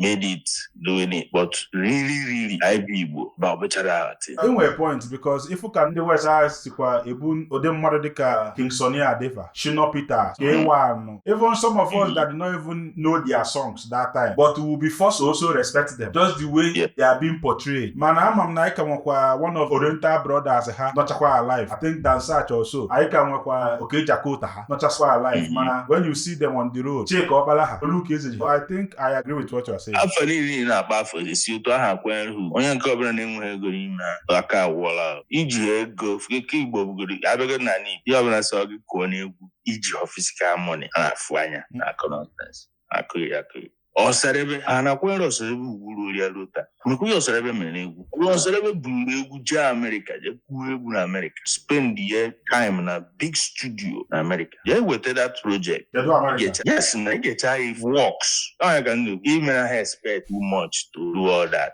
made it doing it but really really anyị bụ Igbo na ọ bụchara but i nwere point because ị fụ ka ndị West ahụ sikwa ebu ụdị mmadụ dịka King Sunny Ade fa Shina Peters K1 even some of us that do not even know their songs that time but we will be forced to also respect them just the way yeah. they are being portrayed mana ama m na anyị ka nwekwa one of Oriental Brothers ha nọchakwa alive I think Dan Satch also anyị ka nwekwa Okey Jakota ha nọchakwa alive mm-hmm. mana when you see them on the road Chika Ọkpala ha Luke Ezeji I think I agree with what you are saying. afọ niile na-akpa afọ esi otu ahụ akwanyere ugwu onye nke ọbụla na-enweghị ego n'ime aka awụọla iji ego ike igbo bụgoro a bịagodị na n'igbo ihe ọbụla sọ gị kụọ n'egwu i jihọ physical money a na-afụ anya na-akụ nonsense akụghị ya akụghị Osadebe a na-akwanyere Osadebe ugwu ruru ya ruo taa mekwa ya Osadebe mere egwu ruo Osadebe buru egwu jee amerịka jee kụọ egwu na amerịka spend ye time na big studio na amerịka jee weta that project Kedu Amerịka? Get- yes na i gechaa ya works ọ ya ka m na-ekwu ị mara he spent too much to do all that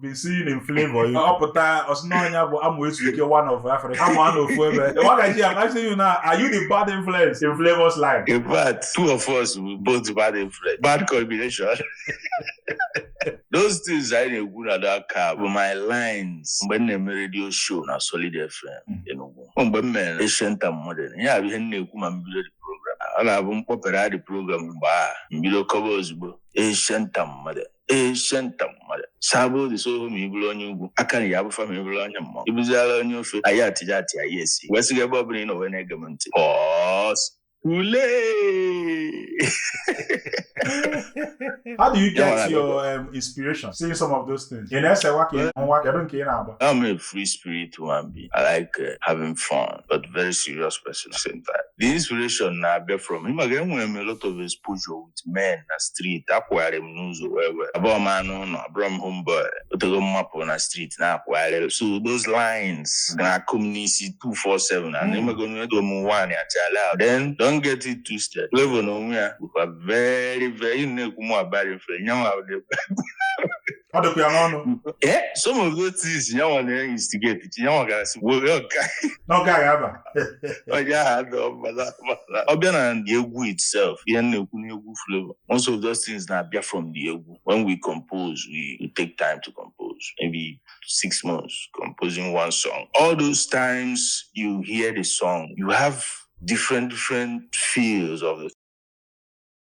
been seeing in Flavour ọ pụta ọ sị na ya bụ amụ ezu ike one of Africa amụ anọ ofu ebe Waga G I'm asking you now are you the bad influence in Flavour's life in fact two of us bụ bad influence bad combination those things anyị na-ekwu na daka bụ my lines mgbe m na-eme redio show na Solid FM hmm. Enugu mgbe m mere Ancient and Modern ihe a bụ ihe m na-ekwu ma m bido the program ọ na-abụ m kpọpere the program mgbe a m bido kọba ozugbo Ancient and Modern Ancient and Modern saba odi so ohu ma ị bụrụ onye ugwu aka na ya abụfa ma ị bụrụ onye mmụọ ị bụziala onye ofe anyị atija atị anyị esi wee sịga ebe ọbụla ị nọ wee na-ege m ntị pọs ule How do you Yeah, get I your um, inspiration seeing some of those things? Ị na-esewa ka ị nwa kedu nke ị na-agba? I'm a free spirit human being. I like uh, having fun, but very serious person at the same time. The inspiration na-abịa from ị ma na enwere m a lot of exposure with men na street akwụgharị m n'ụzọ wee wee abụrọ m anụ ụnọ abụrọ m homeboy o tego m mapụ na street na-akwụgharị so those lines na-akụ m n'isi 247 na na-emego ego m nwaanyị achala ahụ. then don't get it twisted Flavour na onwe ya bụkwa very very na-ekwu mụ bad influence ya nwa ọ dịkwa ya n'ọnụ Eh, some of those things ya nwa na-instigate ya nwa ga-asị were ọga n'oge a ga-aba onye ahụ adọ mbala mbala ọ bịa na the egwu itself ihe m na-ekwu n'egwu Flavour most of those things na-abịa from the egwu when we compose we, we take time to compose maybe six months composing one song all those times you hear the song you have different different feels of the